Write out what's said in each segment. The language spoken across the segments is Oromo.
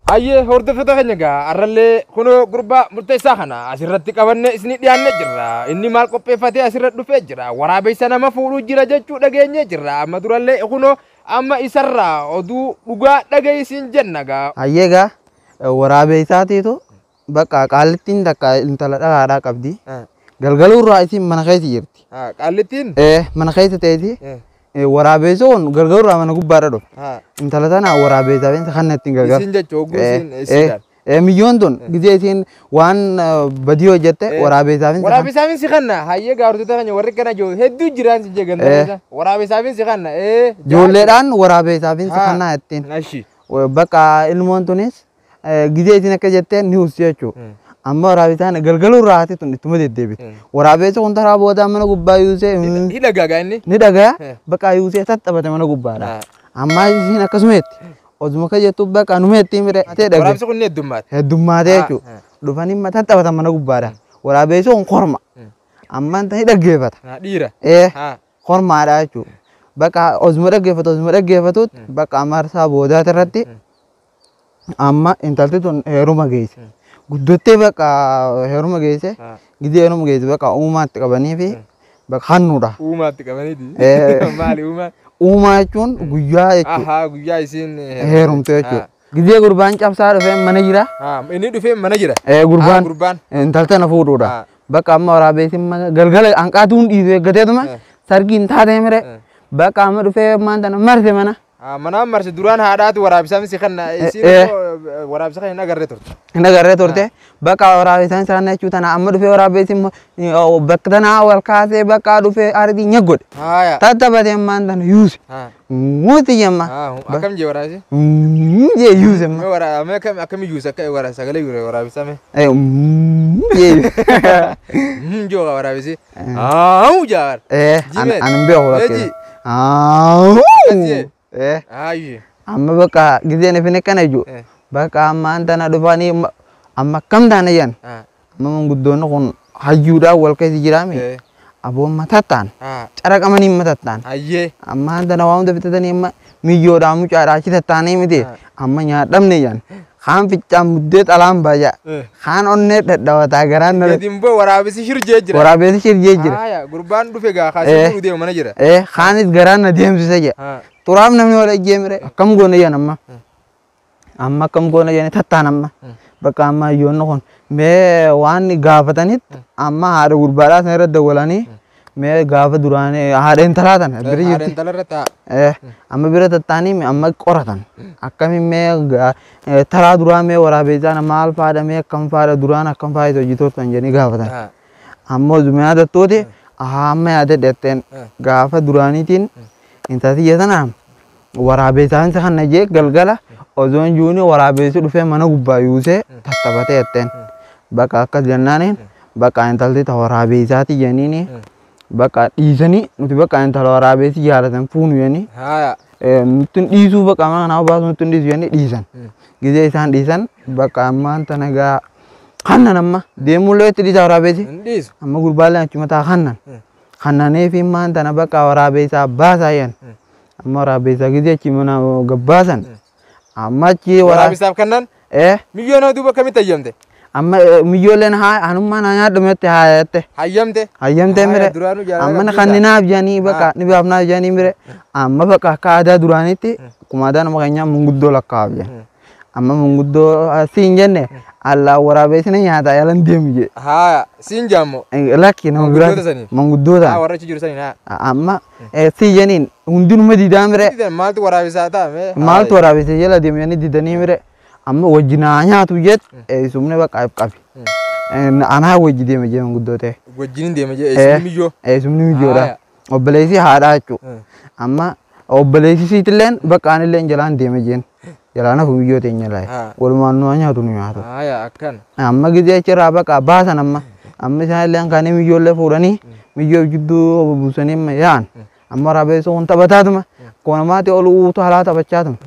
Hayyee hordoftoota keenya egaa har'allee kunoo gurbaa murteessaa kana asirratti qabannee isinii dhiyaannee jirra. Inni maal qopheeffatee asirra dhufee jira? Waraabessa nama fuudhuu jira jechuu dhageenyee jirra. Amma durallee kunoo amma isarraa oduu dhugaa dhaga'i siin jenna egaa. Hayyee egaa waraabeessaatiitu Bakka qaallittiin takka intala dhalaadhaa qabdi. Ah, Galgaluu irraa isiin mana keessa jirti. ah, Qaallittiin? Eh, Mana keessa ta'eeti Eh, eh, waraabeessa kun galgaluu irraa mana gubbaadha dhufte. ah, Intala tana waraabeessa beessa kan ittiin gargaaru. Isiin jechuun hogguu Eh, isiin- eh, isiin gaal. eh, Miyyoon tun gidee isiin waan eh, badii hojjette Eh, waraabeessaaf hin Waraabeessaafin si kanna hayyee gaartota keenya warri kana jiru hedduu jiraan si jeegan Eh. waraabeessaafin si kanna ee Ijoolleedhaan waraabeessaaf hin Ah. sakannaa ittiin. Ashi. Bakka ilmoon tunis Eh, Gizee isin akka jettee niwus jechuu. Amma waraabitaan galgaluu irraa haati tun ittuma deddeebiti. Mm. Waraabeessi kun taraa boodaa mana gubbaa yuusee mm, Hidha gaagaa inni. ni dhagaa Eh. bakka yuusee tattaphate mana gubbaadha. Ah. Amma isin akkasumeetti. Oduma akka jettu bakka numeetti mire ta'e dhage. Waraabsi kun ni heddummaate. Heddummaatee Ah, jechuudha. ah. Dhufanii mata taphatan mana gubbaadha. Waraabeessi kun korma. Mm. Amma inta ni dhaggeeffata. Ah, Dhiira. Eh. Ah, hormaadha jechuudha. Bakka osuma dhaggeeffatu osuma dhaggeeffatutti bakka marsaa boodaati irratti Amma intalti tun heeruma geesse. Guddottee bakka heeruma geesse. Ah. Gidii heeruma geesse bakka uumaatti qabanii fi bakka hannuudha. Uumaatti qabaniiti. Eh. Maali uumaan? Uumaa jechuun guyyaa jechuudha. Ahaa guyyaa isiin Heerumte jechuudha. Gidee gurbaan cabsaa dhufee mana jira. Ah, inni dhufee mana jira. Eh, gurbaan Ah, gurbaan. intal tana fuudhuudha. Ah. Bakka amma waraabeysin mana galgala hanqaatuun dhiisu eeggateetuma Eh. sargiin taatee mire Eh. bakka amma dhufee maanta na marse mana. Ah, Manaan marse duraan haadhaatu waraabisaan si kenna. Eh, Isiin eh. immoo waraabisa kan hin agarre turte. hin agarree turte bakka waraabesaan isaan jechuu tana amma dhufee waraabessi immoo, eh, bakka tanaa wal kaasee bakka dhufee aartii nyaggodhe Haaya. tattabate ammaan tana yuuse Ah, muuti jemma ah, hum- Akkam jee waraabisi? jee yuuse amma Mee wara- mee akkam- Akkam iyyuu isa akka wara- sagalee yure waraabisa mee? Eh, mm, jee yuuse. Hmm, Joo waraabisi. Aau jaar. Eh, an Jimeen. an hin beeku Meeji. lakkee. Aau. Akkasii. Eh, Aayyi. amma bakka gizeen ifin akkana iju. Eh. Bakka amma an tana dhufanii ma- amma akkam taana jan. Ah. Amma manguddoonni kun hayyuudhaan wal keessa jiraame. Eh. Aboon matattaan. Ah. Caraqamanii matattaan. Ayyee. Amma an tana waa hunda bitatanii amma miyyoodhaa mucaadhaa achi tattaanee miti amma nyaadhamne jaan kaan ficcaan muddee xalaan baja kaan onnee dhadhawataa garaan na Gadi immoo waraabessi shirjee jira. waraabeessi shirjee jira Haaya, gurbaan dhufe gaa Eh. kaasee fuudhu deema mana jira. ee kaanis garaan na deemsisa jaa Haa. xuraaf namni wal ejjeemire akkam goona jaan amma Amma akkam goona jedhanii tattaan amma. Bakka amma hayyoonni kun mee waan gaafatanitti amma haadha gurbaadhaa sana irra dawwalanii mee gaafa duraanii haadha intalaa tana bira Haadha jirti. intala irra taa'a. Eh, amma bira tattaanii mi- amma qoratan akkamiin mee ga- eh, taraa duraa mee waraabeessaan maal faadha mee akkam faadha duraan akkam faayita hojii turtan jedhanii gaafatan Haa. amma osuma yaadattuuti ahaa amma yaadadhe jetteen gaafa duraaniitiin intaltiyya tanaan Waraabeessaansi kana jee galgala ozoon juuni waraabeessi dhufee mana gubbaa yuusee tattabatee jetteen. Bakka akkas jennaaniin bakka intalti ta waraabeessaati jeniini bakka dhiisanii nuti bakka intala waraabeessi jaalatan fuunu jenii Haya. nutti hin dhiisuu bakka mana kanaa baasuu nutti hin dhiisu jennee dhiisan. Gizee isaan dhiisan bakka ammaan tana gaa hannan amma deemullee itti dhiisaa waraabeessi. Hin dhiisu. Amma gurbaallee achuma taa hannan. Hannanee fi maan tana bakka waraabeessaa baasaa jen. Amma waraabbisaa gizee achi mana gabbaasan. Amma achi waraa. Waraabisaaf kannan Ee milyoona duuba akkamitti hayyamte? amma eh, miyyooleen haa hanummaan haa nyaadhu mette haa jette. Hayyamte? Hayyamtee Haaya, mire. duraanuu jaalala Amma qabdi kan isaa. ninaaf jedhanii bakka Haa. ni baafnaaf jedhanii mire. Amma bakka akka aadaa duraaniitti akkuma aadaa nama keenyaa munguddoo lakkaa'aaf jedhan. Amma manguddoo asii hin jenne allaa waraabeessi na nyaata yalan deemu jee. Haa siin jaammoo. Lakki nama biraa Manguddoota saniin. manguddoota. Haa warra achi jiru saniin haa. Amma sii jeniin hundinuma didaa mire Didan maaltu waraabisaa ta'a mee? maaltu waraabeessi jala deemu jennee didanii mire amma wajji naa nyaatu jeet eessumni bakka if qabi. Anaa wajji deema jee manguddoo ta'e. Wajjin hin deema jee eessi miyyoo. Eessumni mijoodha. Haaya. obboleessi haadhaa jechuudha. Eh. Amma obboleessi siitilleen bakka anillee jalaan deeme jeen jalaana fumiyyoo teenya Ah. laayee walumaan nu haa nyaatu nu nyaatu. Haaya akkan. Amma gizee achirraa baqa baasan amma amma isaanillee kaanii miyyoollee fuudhanii miyyoo jidduu buusanii amma yaa'an amma rabeessoo kun taphataatuma kun namaatti ol uutu halaa taphachaatuma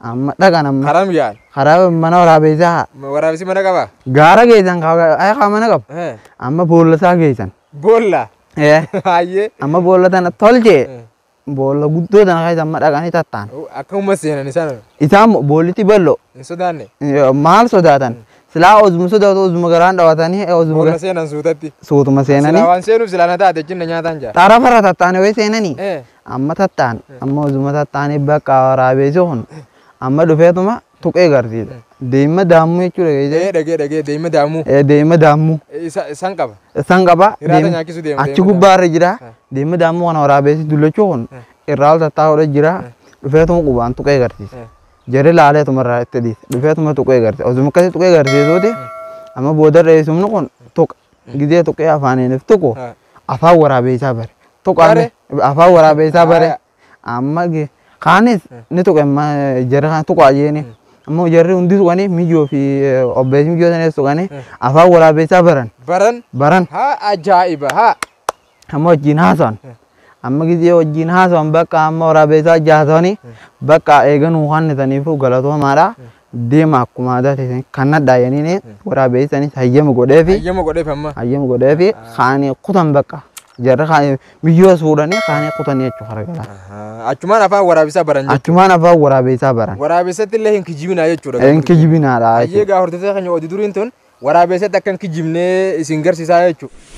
amma dhaqan amma Karam yaal. karaa mana waraabeessaa Waraabessi mana qabaa? gaara geessan kaa mana qabu Eh. amma boolasaa geessan. Boolla. Ee, Hayyee. amma boolla tana tolche boolla guddoo tana keessa amma dhaqanii tattaan Akka uumma seenan isaan isaan mo- boollitti ballo hin sodaanne. Yoo maal sodaatan silaa ozuma sodaatu ozuma garaan dhawatanii eh, ozuma Boolla gar- seenan suutatti. suutuma Silaa seenanii waan seenuuf silaa na taate jinna nyaataan jaa. xarafarra tattaanii way seenanii Eh. amma tattaan amma ozuma tattaanii bakka waraabeessi kun amma dhufeetuma tuqee garti deemma daammu jechuu dhageesse Ee dhagee dhagee deemma daamuu. ee deemma daammu Ee, Isa isan qaba. isaan qaba Hiraata deem- nyaachisuu deema, achi deemma gubbaa irra jira Ah. deemma daammu kana waraabeessi dullachuu kun Ah. irraa ol tattaa'uudha jira dhufeetuma qubaan tuqee garsiisa Ah. jarri laaleetuma irraa itti dhiisa dhufeetuma tuqee garsiisa osuma akkasii tuqee garsiisuuti amma booda dheessumni kun tuqa gidee tuqee afaaniinif tuqu Ah. afaan waraabeessaa bare tuqaan Bare? afaan waraabeessaa bare Aya, Amma ge- kaanis ni tuqe amma jarri kana tuqaa jeeni. Ammoo jarri hundi tuqanii miyyoo fi eh, obbeessi miyyoo sanis tuqanii afaan waraabeessaa baran. Baran. Baran. Haa ajaa'iba haa. Amma wajjin haasa'an. Amma gizee wajjin haasa'an bakka amma waraabeessaa jaasanii bakka eeganuu kannitaniifuu galatoomaadha. deema akkuma aadaa teessan kannadhaa jennee waraabeessanis hayyama godheefi Hayyama godheef amma. hayyama godheefi kaanii kutan bakka jarri kaanii biyyoo suudhanii kaanii kutan jechuu hargala. Ahaa. Achumaan afaan waraabisaa baran jechuudha. Achumaan afaan waraabeessaa baran. Waraabessatti illee hin kijibinaa jechuudha. hin kijibinaadha Hayyee jechuudha. gaa hordoftoota keenya oduu duriin tun Waraabeessatti akka hin kijibne isin garsiisaa jechuudha.